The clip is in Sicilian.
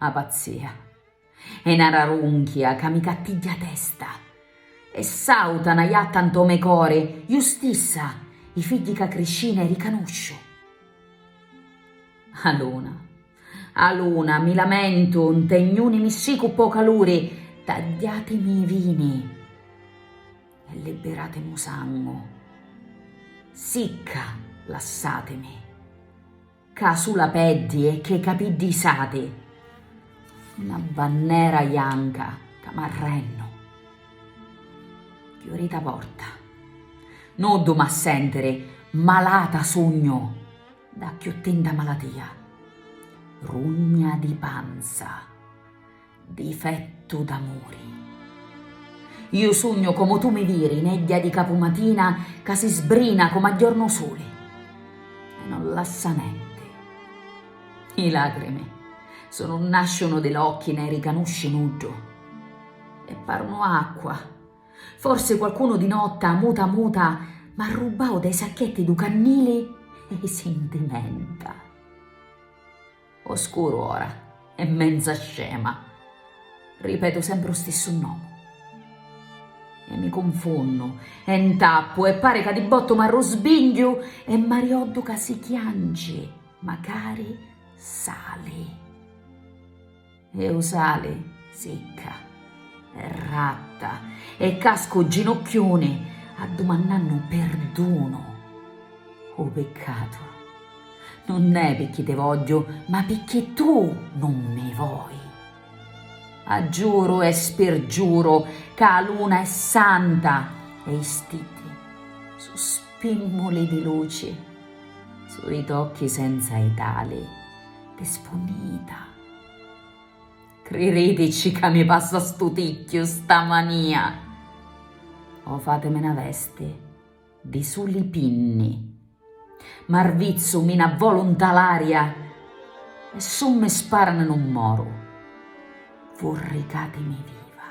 A pazzia è na rarunchia ca mi cattigghia a testa e sauta na jatta nto me cori, ju stissa, i figghi ca criscina i ricanusciu. A luna, a luna, mi lamentu, nte gnuni mi ssicu ppo caluri, tagghiatimi i vini e libbiratimi u sangu. Sicca lassatimi. Ca su la peddi e che capiddi isati. Na bannera janca ca m'arrennu. Chiurita porta. Nuddu m'ha sentiri, malata sugnu da cchiù tinta malatia. Rugna di panza. Difettu d'amuri. Iu sugnu comu tu mi viri, negghia di capumatina ca si sbrina comu a jornu suli e non lassa nenti. I lacrimi su nun nasciunu di l'occhi nè ricanusci nuddu e parunu acqua. Forsi qualcunu di notta muta muta m'arrubbau dai sacchetti du cannili e i sintimenta. O scuru ora è menza scema. Ripetu sempre u stissu nomu. E mi cunfunnu, e ntappu, e pari ca di bottu m'arrusbingghiu e m'arioddu ca si chianci, macari sali. E u sali sicca e ratta e casca u ginucchiuni addumannannu perdunu. U piccatu nun è picchì ti vogghiu ma picchì tu nun mi voi. Aggiuru e spirgiuru ca a luna è santa e i stiddi su spimmuli di luci, su i tocchi senza i tali di spunnita. Criritici ca mi passa stu ticchiu, sta mania! O fatemi 'na vesti di suli pinni. M'arvizzu, mi n'avvolu 'nta l'aria e su mi sparanu nun moru. Vurricatimi viva!